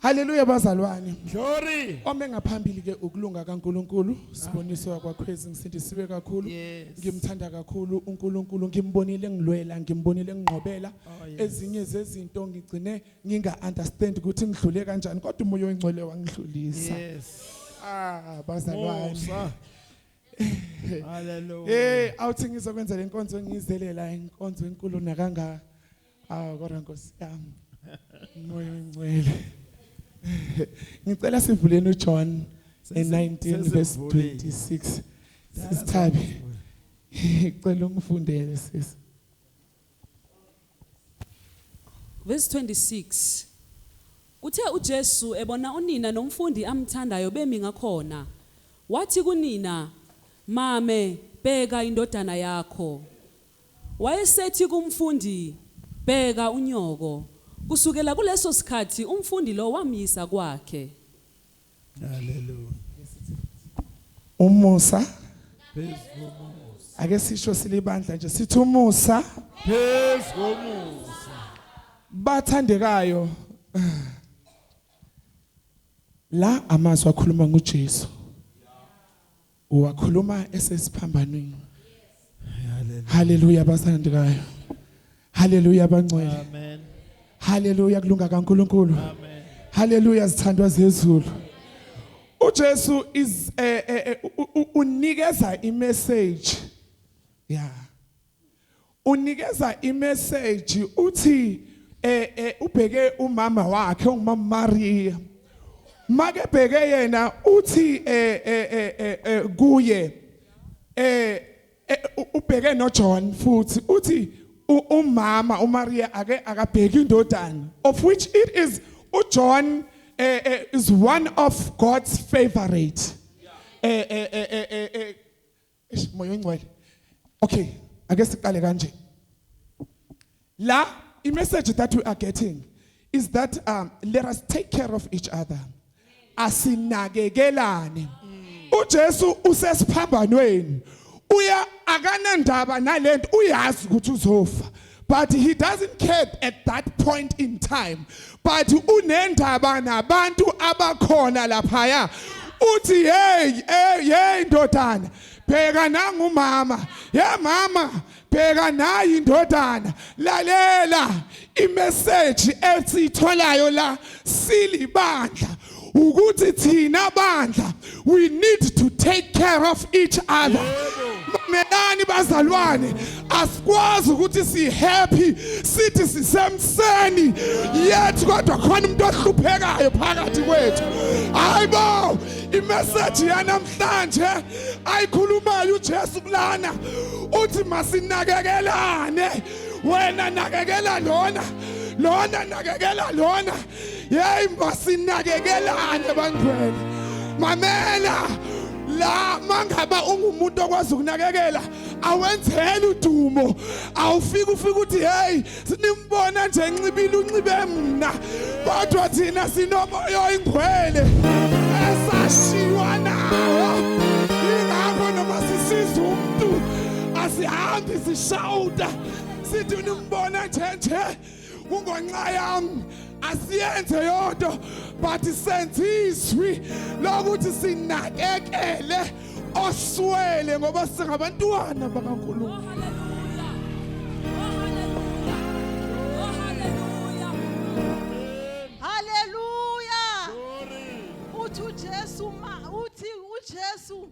Haleluya bazalwane. Glory. Ome ngaphambili ke ukulunga kaNkuluNkulu, siboniso yakwakhwezi ngisindisiwe kakhulu. Ngimthanda kakhulu uNkuluNkulu, ngimbonile ngilwela, ngimbonile ngingqobela. Oh, Ezinye zezinto ngigcine nginga understand ukuthi ngidlule kanjani kodwa umoya oyingcwele wangidlulisa. Yes. Ah bazalwane. Haleluya. Eh awuthi ngizokwenza lenkonzo ngizelela inkonzo enkulu nakangaka. Awu kodwa Nkosi yami. Moya ongcwele. Ngicela sivuleni uJohn eh, 19 verse 26. Sisithabi. Ngicela ungifundele sisi. Verse 26. Kuthe uJesu ebona unina nomfundi amthandayo bemi ngakhona, wathi kunina, "Mame, bheka indodana yakho." Wayesethi kumfundi, Bheka unyoko. Kusukela kuleso sikhathi umfundi lo wamyisa kwakhe. Haleluya. Umusa Phezu komusa. ake sisho silibandla nje sithi umusa Phezu komusa. bathandekayo la amazwi akhuluma nguJesu Wakhuluma esesiphambanweni. Haleluya basandikayo. Haleluya bangcwele. Amen. Haleluya kulunga kaNkuluNkulu. Amen. Haleluya zithandwa zezulu. uJesu is eh, eh, eh, unikeza imessage yeah unikeza imessage uthi eh, eh ubheke umama wakhe ongumama Maria make bheke yena uthi eh, eh, eh, eh, eh kuye eh, eh ubheke no John futhi uthi umama uMaria ake akabheki indodana of which it is uJohn eh, eh, is one of God's favorite eh eh eh eh, eh, eh Eish moya ongcwele. Okay, ake siqale kanje. La i message that we are getting is that um let us take care of each other. Asinakekelane. UJesu usesiphambanweni. Uya akanandaba nalento uyazi ukuthi uzofa. but he doesn't care at that point in time but unendaba nabantu abakhona laphaya uthi hey hey hey ndodana bheka nangumama ye mama bheka nayi indodana lalela imeseji esitholayo la silibandla ukuthi thina bandla we need to take care of each other mamelani bazalwane asikwazi ukuthi si happy sithi sisemseni yet kodwa khona umuntu ohluphekayo phakathi kwethu hayibo imessage yanamhlanje ayikhulumayo uJesu kulana uthi masinakekelane wena nakekela lona lona nakekela lona yeyi masinakekelane bangcwele mamela la mangaba ungumuntu okwazi ukunakekela awenzele udumo awufika ufika ukuthi hey sinimbona nje nxibile unxibe mina kodwa thina sinomoya oyingwele esashiywa nawo ingakho noma sisiza umuntu asihambi sishawuta sithi unimbona nje nje kungonxa yami asiyenze yodwa but senze izwi lokuthi sinakekele oswele ngoba singabantwana bakaNkulunkulu Haleluya uthi uJesu uthi uJesu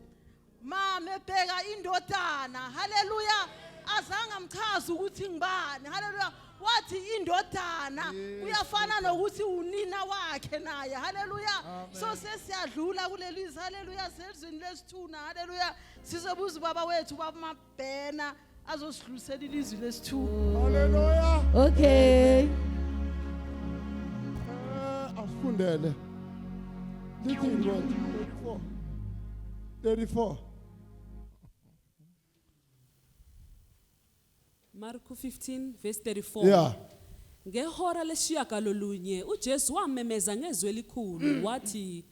mama ebheka indodana haleluya azange amchaza ukuthi ngibani haleluya wathi indodana kuyafana nokuthi unina wakhe naye haleluya so sesiyadlula kuleli haleluya sezweni lesithuna haleluya sizobuza ubaba wethu baba bhena azosidlulisela ilizwi lesithupha Hallelujah. Okay. Eh, Afundele. Lithi ngo 34. 34. Marko 15 verse 34. Yeah. Ngehora leshiyagalolunye uJesu wamemeza ngezwi elikhulu wathi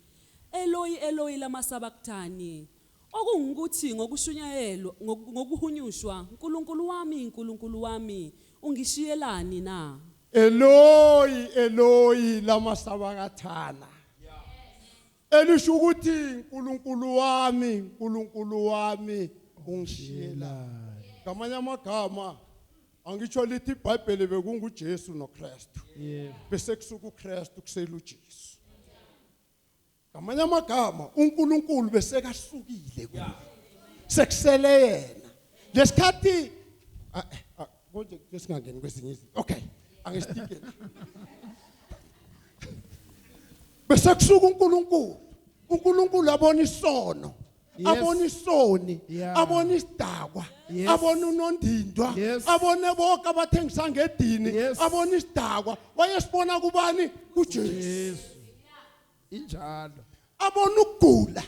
Eloi Eloi lama sabakthani Okungukuthi, ngokushunyayelwa, ngoku, ngokuhunyushwa, Nkulunkulu wami, Nkulunkulu wami, Ungishiyelani na? Eloyi, Eloyi, lama sabakathana. Elisho ukuthi, Nkulunkulu wami, Nkulunkulu wami, Ungishiyelani. Ngamanye amagama, angitsho lithi iBhayibheli bekunguJesu noKristu. Bese kusuka uKristu kusela uJesu. Ngamanye amagama uNkulunkulu besekahlukile kuye. Sekusele yena. Lesikhathi ah, eh, ah, konje singangeni kwesinye izinto. Okay. Angisitike. Bese kusuka uNkulunkulu. uNkulunkulu abona isono. abona isoni abona isidakwa abona unondindwa abone bonke abathengisa ngedini abona isidakwa wayesibona kubani kuJesu injalo abona ukugula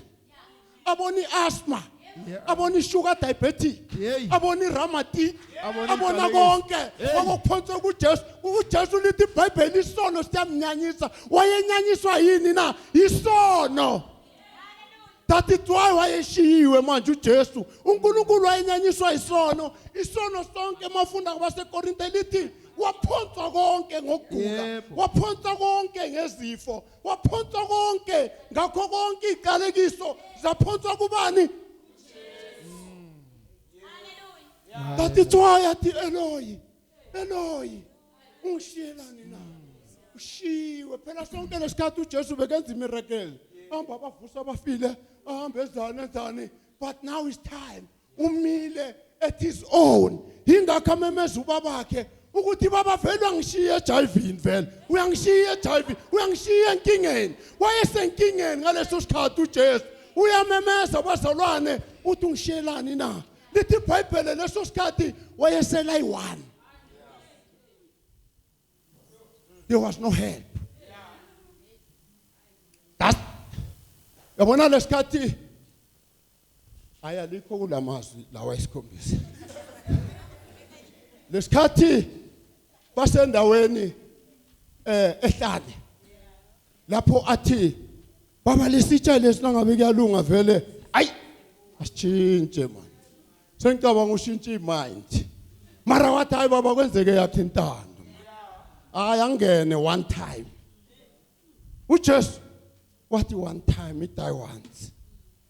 abona i-asthma Yeah. abona i-sugar diabetic Yey. abona i-ramatic Abona abona inhlalayenzi. konke Hey. kwakuphonsa kujesu ujesu lithi ibhayibheli isono siyamnyanyisa wayenyanyiswa yini na yisono that is why wayeshiyiwe manje uJesu uNkulunkulu wayenyanyiswa isono isono sonke mafunda kwabaseKorinte lithi waphonsa konke ngokugula waphonsa konke ngezifo waphonsa konke ngakho konke iqalekiso zaphonsa kubani That is why at the Eloi. Eloyi ungishiyelani na ushiwe phela sonke lesikhathi uJesu bekenza imiracle hamba abavusa abafile ahambe ezana enzani but now is time umile at his own yingakho amemeza ubabakhe ukuthi baba vele uyangishiya ejayivini vele uyangishiya ejayivini uyangishiya enkingeni wayesenkingeni ngaleso sikhathi uJesu uyamemeza bazalwane uthi ungishiyelani na lithi ibhayibhele leso sikhathi wayesela yi-one there was no help That's, yabona lesikhathi hayi alikho kula mazwi lawa esikhombisa lesikhathi basendaweni eh ehlane lapho athi baba lesitsha lesi nangabe kuyalunga vele ayi asitshintshe manje sengicabanga ushintshe imind mara wathi hayi baba kwenzeke yakhe intando hayi angene one time ujesu wathi one time idayi once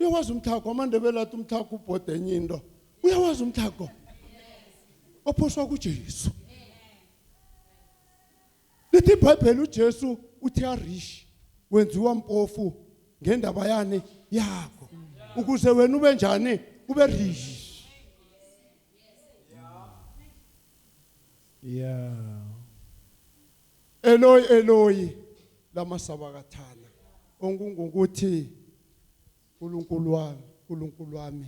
uyawazi umthago amandebela athi umthago ubhoda enye into uyawazi umthago ophoswa kuJesu lithi iBhayibheli uJesu uthe arish wenziwa mpofu ngendaba yani yakho ukuze wena ube njani ube rish yeah Eloyi Eloyi lama sabakathana ongungukuthi uNkulunkulu wami uNkulunkulu wami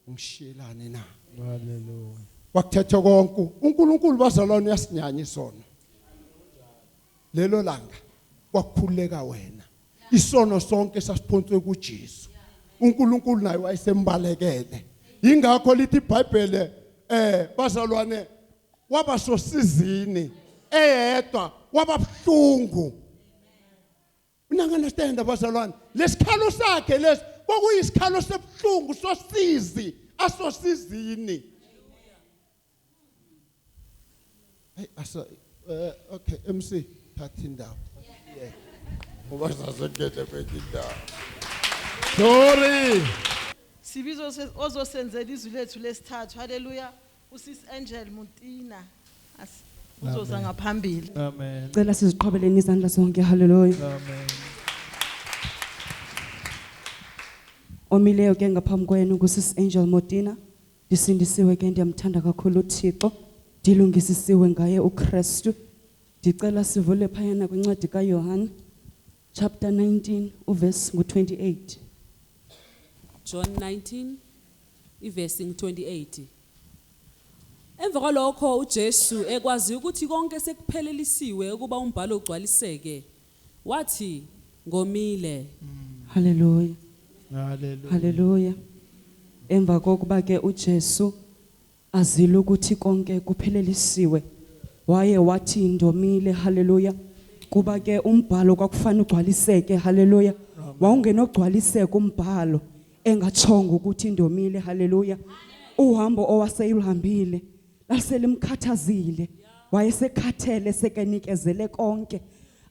ungishiyelani na Haleluya. wakuthetha konke uNkulunkulu bazalwane uyasinyanya isono lelo langa kwakhuleka wena isono sonke sasiphonswe kuJesu uNkulunkulu naye wayesembalekele ingakho lithi iBhayibhele eh bazalwane waba sosizini eyedwa wababuhlungu unanga understand abazalwane lesikhalo sakhe lesi kwakuyisikhalo sebuhlungu sosizi asosizini hey asa eh, okay MC thatha indawo yeah ngoba sasengene kwenye indawo sorry sibizo ozosenzela izwi lethu lesithathu haleluya Usis Angel Muntina as uzoza Amen. ngaphambili. Amen. Cela siziqhwabeleni izandla zonke. Hallelujah. Amen. Omileyo ke ngaphambi kwenu kusis Angel Motina. Ndisindisiwe ke ndiyamthanda kakhulu uThixo. Ndilungisisiwe ngaye uKristu. Ndicela sivule phayana kwincwadi kaYohane chapter 19 uverse ngu-28 John 19 ivesi ngu-28 Emva kwalokho uJesu ekwazi ukuthi konke sekuphelelisiwe ukuba umbhalo ugcwaliseke wathi ngomile haleluya Hallelujah. haleluya emva kokuba ke ujesu Azile ukuthi konke kuphelelisiwe. Waye wathi ndomile haleluya. Kuba ke umbhalo kwakufana ugcwaliseke haleluya. Wawungenogcwaliseka umbhalo engatshongo ukuthi ndomile haleluya. Uhambo owaseyulhambile laselimkhathazile. Wayesekhathele sekenikezele konke.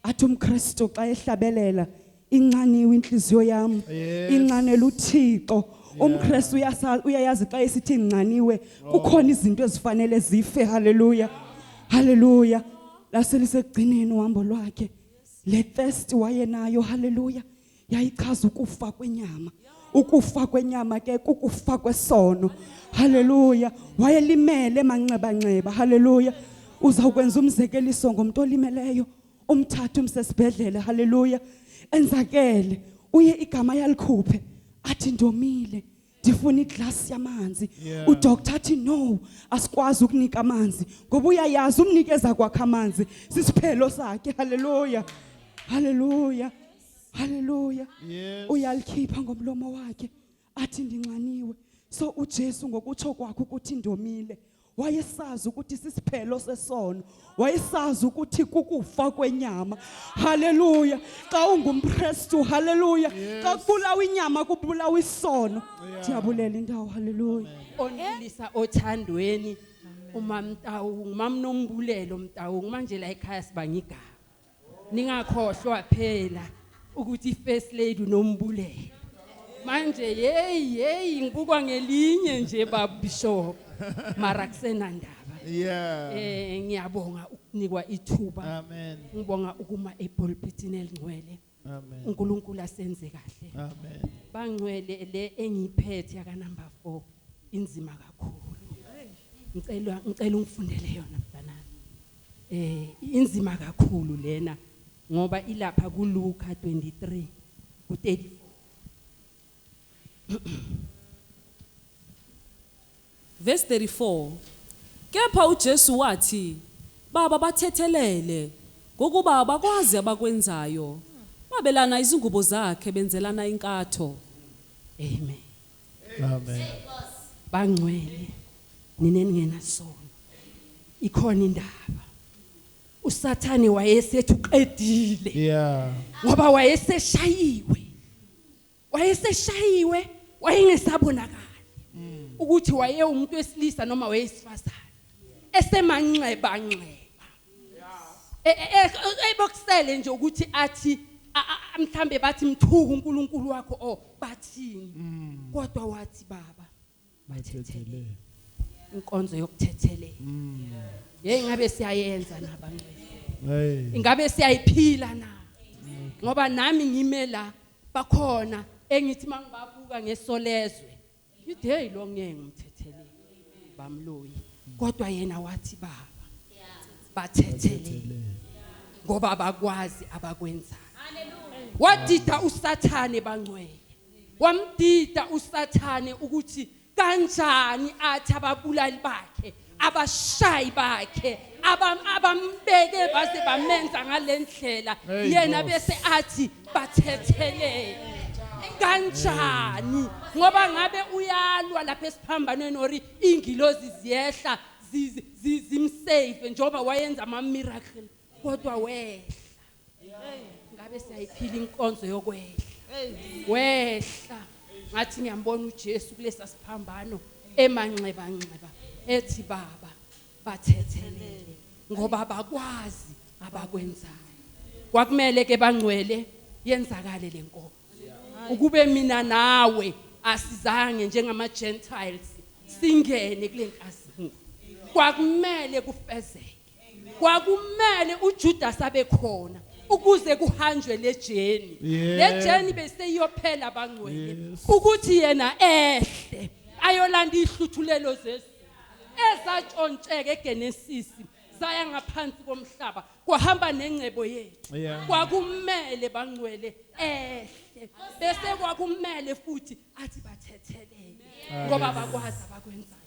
Athi umKristu xa ehlabelela inxaniwe inhliziyo yami inxanela uThixo umKristu uyasazi uyayazi xa esithi nxaniwe kukhona izinto ezifanele zife haleluya haleluya laselisegcineni uhambo lwakhe le thirst wayenayo haleluya yayichaza ukufa kwenyama ukufa kwenyama ke kukufa kwesono haleluya wayelimele manxeba nxeba haleluya uzawukwenza umzekeliso ngomuntu olimeleyo umthatha umsesibhedlela haleluya enzakele uye igama yalikhuphe athi ndomile ndifuna iglass yamanzi yeah. udoctor athi no asikwazi ukunika amanzi ngoba uyayazi umnikeza kwakhe amanzi sisiphelo sakhe haleluya haleluya haleluya yes. uyalikhipha ngomlomo wakhe athi ndinxaniwe so uJesu ngokutsho kwakhe ukuthi ndomile wayesazi ukuthi sisiphelo sesono wayesazi ukuthi kukufa kwenyama haleluya xa ungumkristu haleluya xa kubulawa inyama kubulawa isono ndiyabulela indawo haleluya onelisa othandweni umamtawu ngumamnombulelo mtawu manje la ekhaya siba ngigama Ningakhohlwa phela ukuthi first lady unombulelo. Manje hey hey ngibukwa ngelinye nje baba Bishop. Mara kusenandaba. Yeah. Eh ngiyabonga ukunikwa ithuba. Amen. Ngibonga ukuma epulpitini elingcwele. Amen. uNkulunkulu asenze kahle Amen. bangcwele le engiphethe yaka number 4 inzima kakhulu ngicela ngicela ungifundele yona Eh inzima kakhulu lena ngoba ilapha ku Luka 23 ku 34. Verse 34 Kepha uJesu wathi baba bathethelele ngokuba abakwazi abakwenzayo babelana izingubo zakhe benzelana inkatho Amen. Amen. bangcwele nina eningenasono ikhona indaba usathane wayesethi uqedile Yeah. ngoba wayeseshayiwe wayeseshayiwe wayengesabonakali ukuthi wayewumuntu wesilisa noma weyesifazane esemanxeba nxeba E- e- e- e- ebokusele nje ukuthi athi a- a- a- mhlambe bathi mthuku uNkulunkulu wakho o bathini kodwa wathi baba bathethelele inkonzo yokuthethelela hey ngabe siyayenza nabangcwele Hey. ingabe siyayiphila na ngoba nami ngime la bakhona engithi mangibabuka ngesolezwe Ngithi hey lo ngeke ngimthethelele bamloyi kodwa yena wathi baba bathethelele ngoba abakwazi abakwenzayo wadida usathane bangcwele wamdida usathane ukuthi kanjani athi ababulali bakhe abashayi bakhe abam- abambeke baze bamenza ngale ndlela Hey, yena Nkosi. bese athi bathethelele kanjani ngoba ngabe uyalwa lapha esiphambanweni or ingilozi ziyehla zi- zi- zimsave njengoba wayenza ama-miracle kodwa wehla ngabe siyayiphila inkonzo yokwehla wehla ngathi ngiyambona uJesu kulesa siphambano emanxeba nxeba ethi baba bathethelele ngoba bakwazi abakwenzayo kwakumele ke bangcwele yenzakale lenkomo ukube mina nawe asizange njengama Gentiles singene kulenkazimu kwakumele kufezeke kwakumele uJudas abe khona ukuze kuhanjwe lejeni lejeni beseyiyophela abangcwele ukuthi yena ehle ayolanda ihluthulelo zesu ezatshontsheke eGenesis zaya ngaphansi komhlaba kwahamba nengcebo yethu kwakumele bangcwele ehle bese kwakumele futhi athi bathethelele ngoba bakwazi abakwenzayo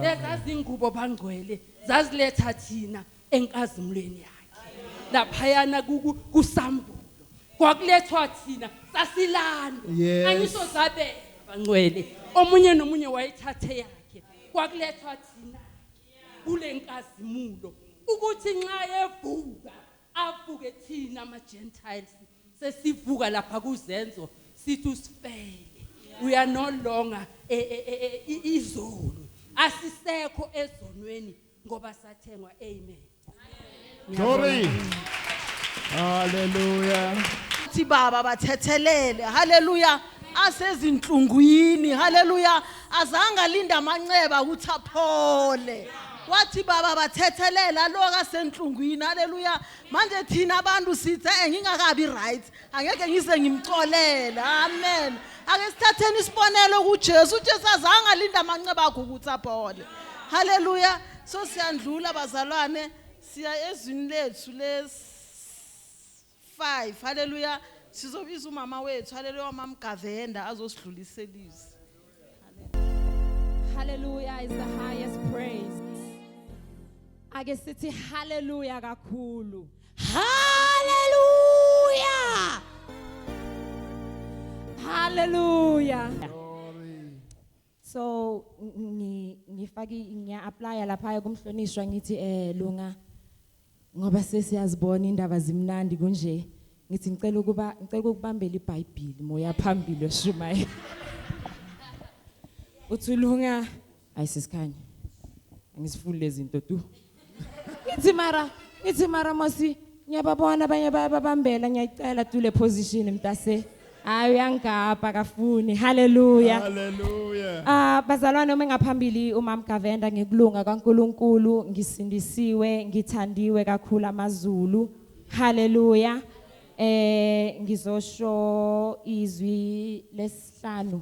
lezazingubo bangcwele zaziletha thina enkazimulweni yakhe laphayana kusambulo kwakulethwa thina sasilanda angisho zabela bangcwele omunye nomunye wayithathe yakhe kwakulethwa thina kule nkazimulo ukuthi nxa evuka avuke thina ama-gentiles sesivuka lapha kuzenzo sithi usifele we are no longer e, e, e, e, izoni asisekho ezonweni ngoba sathengwa amen Glory. Hallelujah. Thi baba bathethelele. Hallelujah. Asezinhlungwini. Hallelujah. Azange alinde amanceba ukuthi aphole. Wathi baba bathethelele aloka senhlungwini. Hallelujah. manje thina abantu sithe eh, ngingakabi right angeke ngize ngimxolele amen ake sithatheni isibonelo kuJesu uJesu azange alinda amanxeba akho ukuthi aphole haleluya so siyandlula bazalwane siya ezwini lethu les 5 haleluya sizobiza umama wethu haleluya umamgavenda azosidlulisela izwi Hallelujah is the highest praise. Ake sithi hallelujah kakhulu. Hallelujah. Hallelujah. So ngifaki ngiya apply lapha kumhlonishwa ngithi eh lunga Ngoba sesiyazibona indaba zimnandi kunje. Ngithi ngicela ukuba ngicela ukubambela iBhayibheli moya phambili oshumayela. Uthulunga ayisikhanya. Angisifuni lezinto tu. Ngithi mara, ngithi mara mosi ngiyababona abanye bayababambela ngiyayicela tu le position mtase. Hayi uyangigabha kafuni. Hallelujah. Hallelujah. Ah bazalwane uma ngaphambili uMam Gavenda ngikulunga kaNkuluNkulu ngisindisiwe ngithandiwe kakhulu amaZulu. Hallelujah. Eh ngizosho izwi lesihlanu.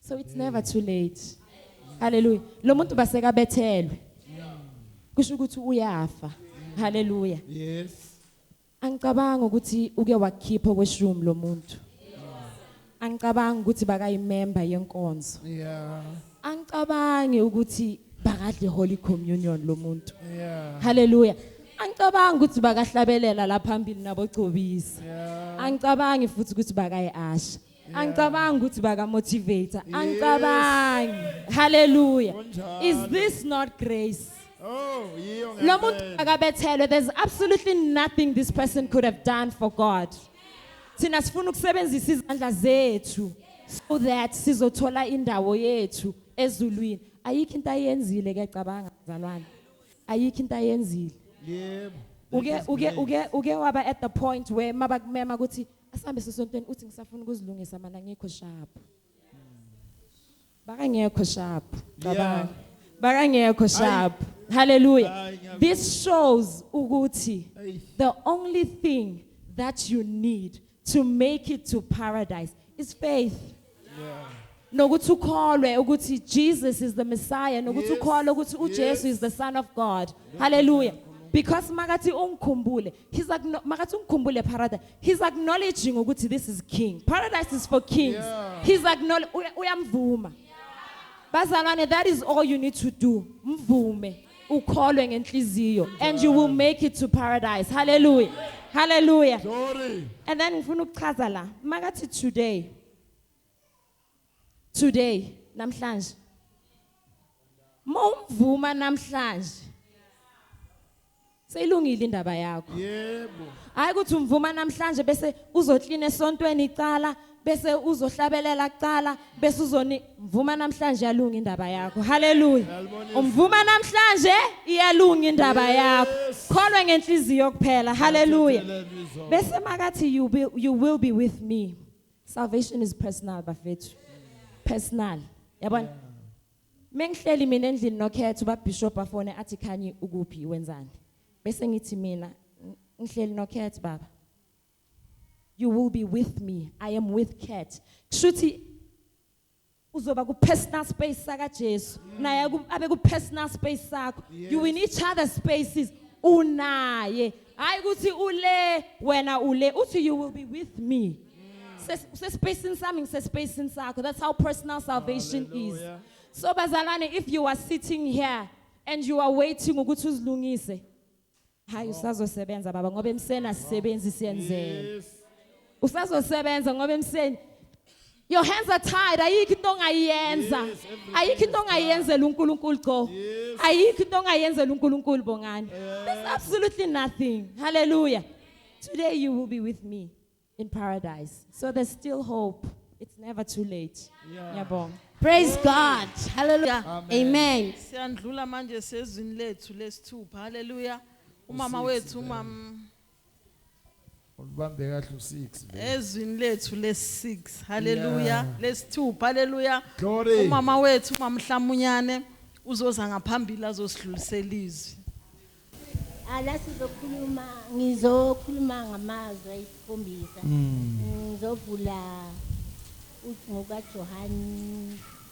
so it's never too late haleluya lo muntu basekabethelwe kusho ukuthi uyafa haleluya yes angicabanga ukuthi uke wakhipha kweshumi lo muntu angicabanga ukuthi bakayimember yenkonzo yeah angicabangi ukuthi bakadle holy communion lo muntu yeah haleluya angicabangi ukuthi bakahlabelela la phambili nabogcobisa yeah angicabangi futhi ukuthi bakayasha angicabangi ukuthi baka motivator angicabangi hallelujah is this not grace Oh, yiyo lo muntu ngempela. akabethelwe there's absolutely nothing this person could have done for god thina sifuna ukusebenzisa izandla zethu so that sizothola indawo yethu ezulwini ayikho into ayenzile ke cabanga mzalwane ayikho into ayenzile Yebo. uke uke uke uke waba at the point where mabakumema ukuthi Asambe sesontweni uthi ngisafuna ukuzilungisa mana ngikho sharp. Bakangekho sharp. Cabanga. Bakangekho sharp. Hallelujah. Hayi, ngiyabonga. This shows ukuthi Eish. the only thing that you need to make it to paradise is faith. nokuthi ukholwe ukuthi Jesus is the Messiah nokuthi ukholwe ukuthi uJesu is the son of God hallelujah because makathi ungikhumbule he's like makathi ungikhumbule paradise he's acknowledging ukuthi this is king paradise is for kings yeah. he's acknowledge uyamvuma bazalwane that is all you need to do mvume ukholwe ngenhliziyo and you will make it to paradise hallelujah hallelujah Glory. and then ngifuna ukuchaza la makathi today today namhlanje mawumvuma namhlanje Seyilungile indaba yakho. Yebo. Hayi ukuthi umvuma namhlanje bese uzoklina esontweni icala bese uzohlabelela kucala bese uzoni mvuma namhlanje yalunga indaba yakho haleluya umvuma namhlanje iyalunga indaba yakho kholwe ngenhliziyo kuphela haleluya bese makathi you be, you will be with me salvation is personal bafethu personal yabona yeah. Mengihleli mina endlini nokhetho babishop afone athi khanyi ukuphi wenzani. Bese ngithi mina ngihleli nokhetho baba. You will be with me. I am with Cat. Kushuthi uzoba ku personal space saka Jesu. Naye abe ku personal space sakho. You in each other spaces. Unaye hayi ukuthi ule wena ule uthi you will be with me Ses- usespacini sami ngisespacini sakho that's how personal salvation is Hallelujah. so bazalwane if you are sitting here and you are waiting ukuthi uzilungise hayi usazosebenza baba ngoba emseni asisebenzi siyenzela Yes. usazosebenza ngoba emseni your hands are tied ayikho into ongayiyenza ayikho into ongayenzela uNkulunkulu go ayikho into ongayenzela uNkulunkulu bongani there's absolutely nothing hallelujah today you will be with me in paradise so there's still hope it's never too late yabonga yeah. Praise God. Hallelujah. Amen. Siyandlula manje sezwini lethu lesithupha. Hallelujah. Umama wethu umama Ulibambe kahle u6 le. Ezwini lethu les6. Haleluya. Yeah. Lesithupha haleluya. Glory. Umama wethu umamhlamunyane uzoza ngaphambili azosidlulisela izwi. Ala sizokhuluma ngizokhuluma ngamazwi ayisikhombisa. Ngizovula ucingo kaJohane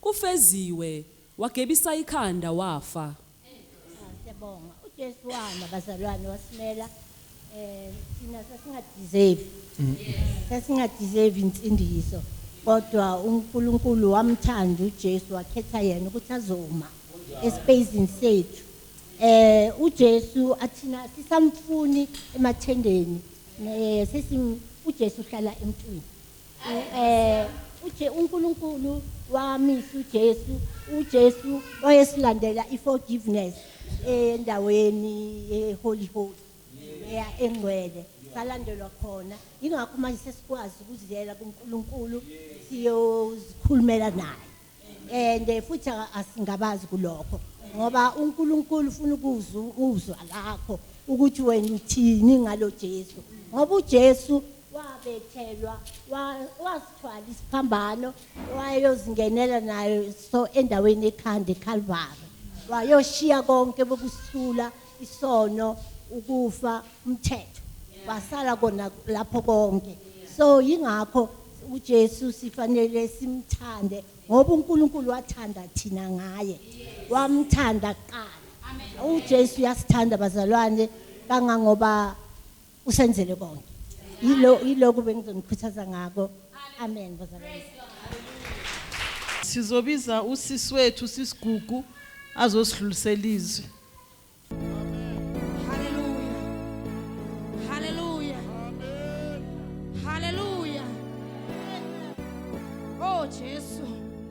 Kufeziwe wagebisa ikhanda wafa. Cha syabonga uJesu wama bazalwane wasimela eh thina sasinga deserve sasinga deserve insindiso kodwa uNkulunkulu wamthanda uJesu wakhetha yena ukuthi azoma espacing sethu eh uJesu athina sisamfuni emathendeni eh sesim uJesu uhlala emntwini eh uje uNkulunkulu wamisa uJesu uJesu wayesilandela iforgiveness endaweni eholy holy eya engcwele salandelwa khona ingakho manje sesikwazi ukuziyela kuNkulunkulu siyozikhulumela naye and eh, futhi asingabazi kulokho ngoba uNkulunkulu ufuna ukuzwa ukuzwa lakho ukuthi wena uthini ngalo Jesu ngoba uJesu wabethelwa wasithwala isiphambano wayozingenela nayo so endaweni ekhanda eKalvari wayoshiya konke bokusula isono ukufa umthetho wasala kona lapho konke so yingakho uJesu sifanele simthande ngoba uNkulunkulu wathanda thina ngaye wamthanda kuqala uJesu uyasithanda bazalwane kangangoba usenzele konke yilo yiloku bengizonikhuthaza ngako amen bazalwane sizobiza usisi wethu sisigugu azosidlulisela izwi Hallelujah. Hallelujah. Hallelujah. Oh Jesu.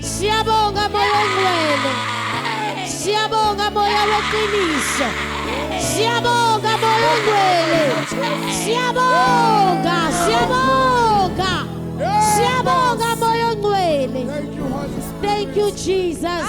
Siyabonga moya ongcwele. Siyabonga moya weqiniso. Siyabonga moya ongcwele. Siyabonga, siyabonga. Siyabonga moya ongcwele. Thank you Jesus.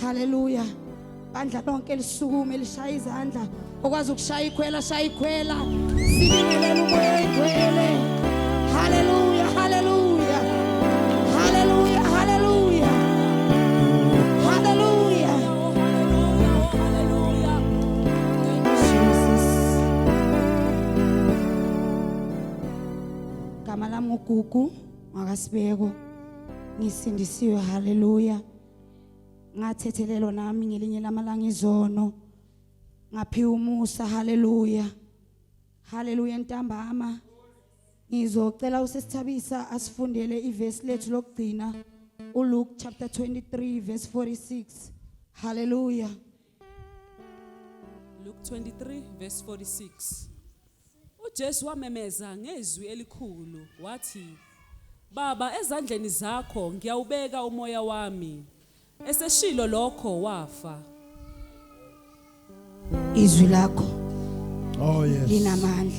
Hallelujah. Bandla lonke lisukume lishaya izandla. Okwazi ukushaya ikhwela shaya ikhwela. Sibingelele umoya igwele. Hallelujah. Hallelujah. Hallelujah. Hallelujah. Hallelujah. Jesus. Gama lami uGugu. Makasibeko ngisindisiwe haleluya. Ngathethelelwa nami ngelinye lamalanga izono. Ngaphiwa umusa haleluya. Haleluya ntambama. Ngizocela usesithabisa asifundele ivesi lethu lokugcina uLuke chapter 23 verse 46. Hallelujah. Luke 23 verse 46 uJesu wamemeza ngezwi elikhulu wathi Baba ezandleni zakho ngiyawubeka umoya wami eseshilo lokho wafa izwi lakho Oh yes. linamandla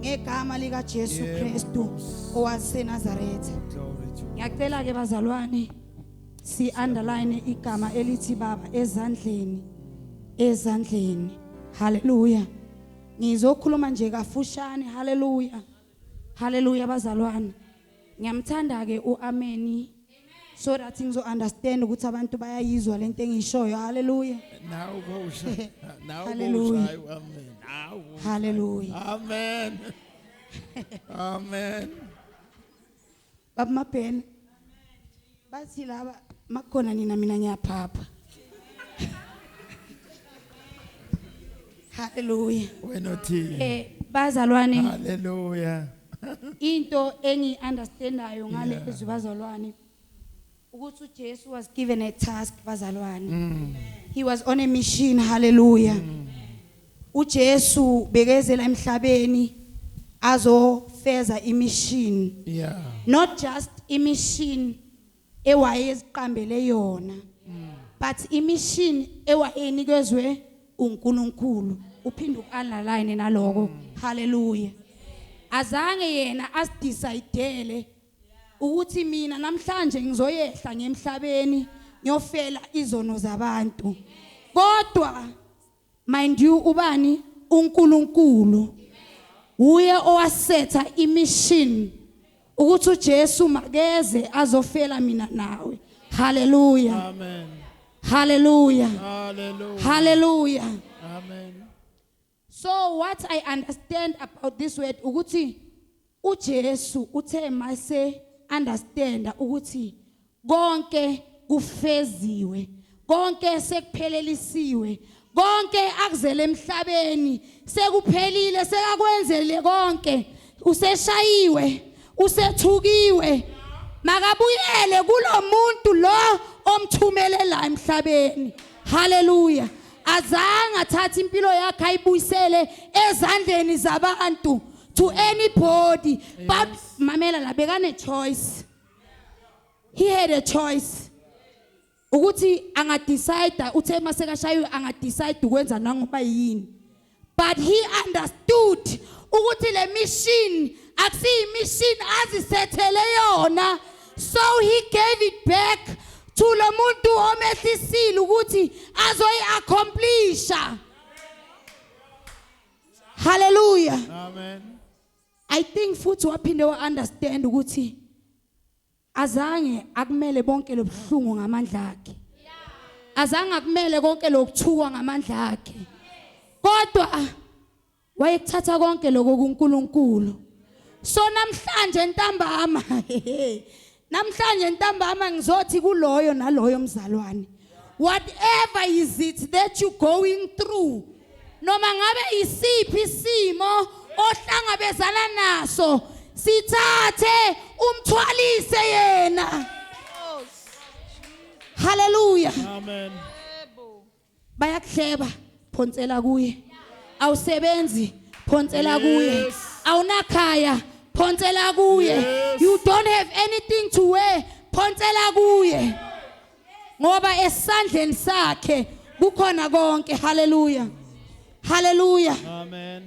ngegama lika Jesu Kristu owaseNazaretha ngiyacela ke bazalwane si underline igama elithi baba ezandleni ezandleni haleluya ngizokhuluma nje kafushane haleluya haleluya bazalwane Ngiyamthanda-ke u-ameni so that ngizo-understand ukuthi abantu bayayizwa le nto engiyishoyo halleluya Now go ushaye. Now go Hallelujah. ushaye. Amen. Now go ushaye. halleluya Amen. Amen. babamabhena bathi laba makukhona nina mina ngiyaphapha haleluya wena othini eh bazalwane haleluya into engi understandayo ngale Yeah. ezwi bazalwane ukuthi uJesu was given a task bazalwane he was on a mission hallelujah uJesu bekezela emhlabeni azofeza imission yeah not just imission ewayeziqambele yona mm. but imission ewayenikezwe uNkulunkulu uphinde ualign naloko mm. haleluya azange yena asidecide ukuthi mina namhlanje ngizoyehla ngemhlabeni ngiyofela izono zabantu kodwa Mind you ubani uNkulunkulu uye owasetha imission ukuthi uJesu makeze azofela mina nawe. Hallelujah. Amen. Hallelujah. Hallelujah. Hallelujah. Amen. So what I understand about this word ukuthi UJesu uthe mase understanda ukuthi konke kufeziwe, konke sekuphelelisiwe, konke akuzele emhlabeni sekuphelile sekakwenzele konke useshayiwe usethukiwe makabuyele kulomuntu lo omthumelela emhlabeni haleluya azange athathe impilo yakhe ayibuyisele ezandleni zabantu to anybody yes. but mamela la bekane choice he had a choice ukuthi angadecide uthe masekashaywe angadecide ukwenza nangoba yini but he understood ukuthi le mission akusiyi mission azisethele yona so he gave it back to lo muntu omehlisile ukuthi azoyi accomplisha haleluya amen i think futhi waphinde wa understand ukuthi azange akumele bonke lobuhlungu ngamandla akhe azange akumele konke lokuthukwa ngamandla akhe kodwa wayekuthatha konke lokho kuNkulunkulu so namhlanje ntambama namhlanje ntambama ngizothi kuloyo naloyo mzalwane whatever is it that you going through noma ngabe isiphi isimo ohlangabezana naso sithathe umthwalise yena haleluya amen bayakuhleba phonsela kuye awusebenzi phonsela kuye awunakhaya phonsela kuye you don't have anything to wear phonsela kuye ngoba esandleni sakhe kukhona konke haleluya haleluya amen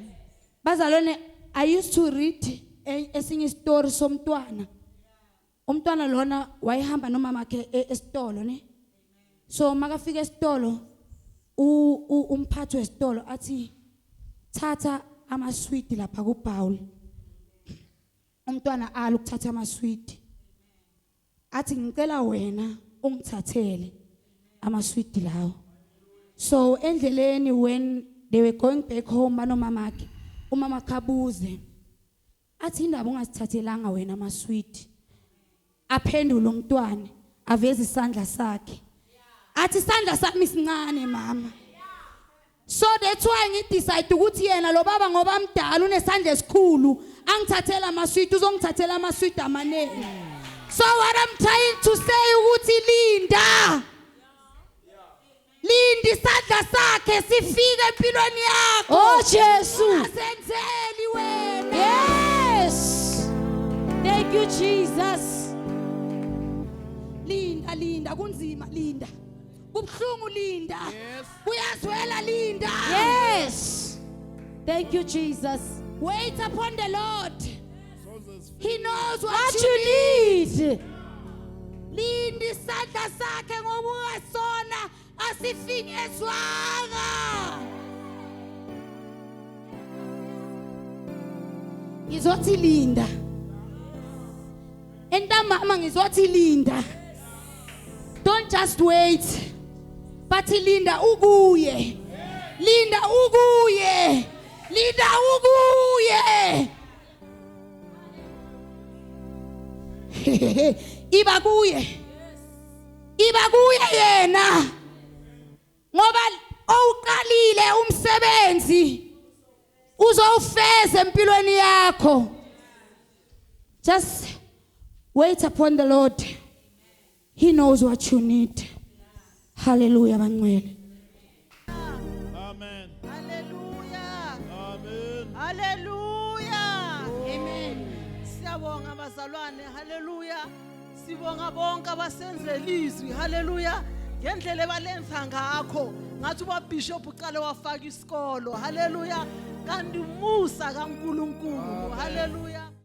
bazalwane i used to read e, esinye isitori somntwana umntwana lona wayehamba nomama wakhe e, esitolo ne so makafika esitolo umphathi wesitolo athi thatha amaswidi lapha kubhawl umntwana ala ukuthatha amaswidi athi ngicela wena ungithathele amaswidi lawo so endleleni when they were going back home banomamakhe umama khabuze athi indaba ungasithathelanga wena amaswidi aphendula umntwana aveza isandla sakhe athi isandla sami sincane mama so that's why ngidecide ukuthi yena lo baba ngoba mdala unesandla esikhulu angithathela amaswidi uzongithathela amaswidi amaningi so what i'm trying to say ukuthi linda linda isandla sakhe sifike empilweni yakho oh jesu asenzeli wena yes thank you jesus linda linda kunzima linda kubuhlungu linda yes Uyazwela Linda. Yes. Thank you Jesus. Wait upon the Lord. He knows what, what you, you need. need. Linda isandla sakhe ngoba ungasona asifinyezwanga. Ngizothi Linda. entambama ngizothi linda don't just wait but linda ukuye linda ukuye linda ukuye iba kuye iba kuye yena ngoba owuqalile umsebenzi uzowufeza empilweni yakho just wait upon the lord he knows what you need haleluya bangcwele amen haleluya amen haleluya amen siyabonga bazalwane haleluya Sibonga bonke abasenzela izwi. Hallelujah. Ngendlela ebalenza ngakho. Ngathi ubabishop uqale wafaka isikolo. Hallelujah. Kanti umusa kaNkuluNkulu. Hallelujah.